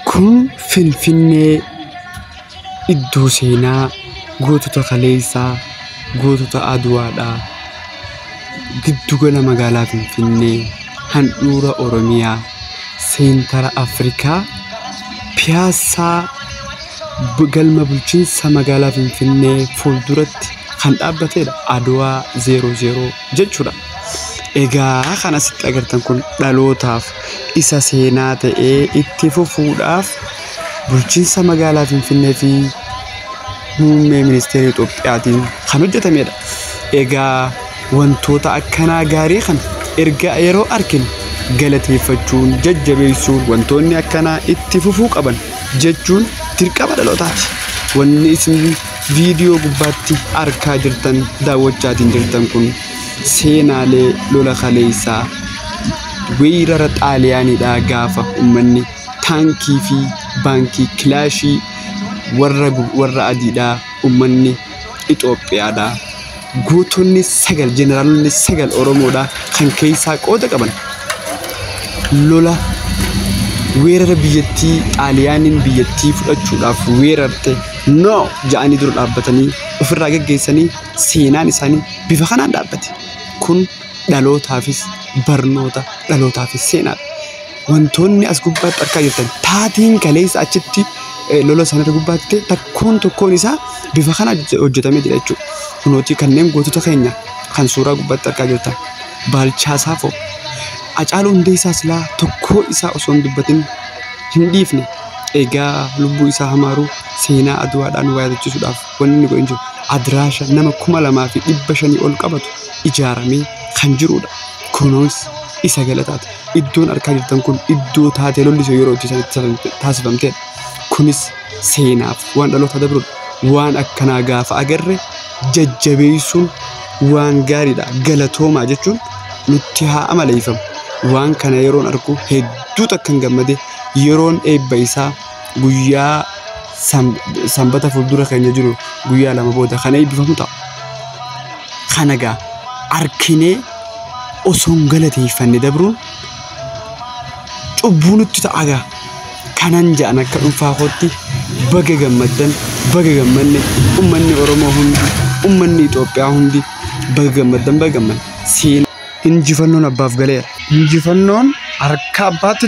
Kun Finfinnee iddoo seenaa gootota kaleessaa, gootota Adwaadha. Giddu gala magaalaa Finfinnee, handhuura Oromiyaa, seentara Afrikaa, piyaassaa galma bulchiinsa magaalaa Finfinnee fuulduratti kan dhaabbatedha. Adwaa 00. jechuudha. Egaa kan asitti agartan kun dhalootaaf isa seenaa ta'ee itti fufuudhaaf bulchiinsa magaalaa Finfinnee fi muummee ministeera Itoophiyaatiin kan hojjetamedha. Egaa wantoota akkanaa gaarii kana erga yeroo arginu galateeffachuun jajjabeessuun wantoonni akkanaa itti fufuu qaban jechuun dirqama dhalootaati. Wanni isin Viidiyoo gubbaatti arkaa jirtan daawwachaatiin jirtan kun seenaalee lola kaleessaa weerara xaaliyaaniidhaa gaafa ummanni taankii fi baankii kilaashii warra, warra adiidhaa ummanni Itoophiyaadhaa Gootonni sagal jeneraalonni sagal Oromoodha kan keessaa qooda qaban lola weerara biyyattii xaaliyaaniin biyyattii fudhachuudhaaf weerarte no ja'anii dura dhaabbatanii ofirraa geggeessanii seenaan isaanii bifa kanaan dhaabbate kun dhalootaafis barnoota dhalootaafis seenaadha. wantoonni as gubbaatti argaa jirtan taatiin kaleessa achitti eh, lola sanarra gubbaatti ta'e takkoon tokkoon isaa bifa kana hojje- hojjetamee jira jechuudha. Kunooti kanneen gootota keenya kan suuraa gubbaatti argaa jirtan baalchaa saafoo Hacaaluu Hundeessaa silaa tokkoo isaa osoo hin dubbatin hin dhiifne egaa lubbuu isaa hamaaruu seenaa aduwaadhaan waa yaadachiisuudhaaf wanni inni godhe hin jiru adiraasha nama kuma lamaa fi dhibba shanii ol qabatu ijaaramee kan jirudha. Kunoos isa galataati. Iddoon argaa jirtan kun iddoo taatee lolli sun yeroo itti taasifamte- taasifamtedha. Kunis seenaaf waan dhaloota dabrudha. Waan akkanaa gaafa agarre jajjabeessuun waan gaariidha. Galatoomaa jechuun nutti haa amaleeffamu. Waan kana yeroon argu hedduu takkan gammade yeroon eebba isaa guyyaa sanbata fuuldura keenya jiru guyyaa lama booda kan eebbifamu ta'a. Kana gaa arkinee osoo hin galateeffanne dabruun cubbuu nutti ta'a gaa. Kanan ja'an akka dhuunfaa kootti baga gammaddan baga gammanne ummanni Oromoo hundi ummanni Itoophiyaa hundi baga gammaddan baga gammanne. Seen injifannoon abbaaf galeera. Injifannoon harka abbaatti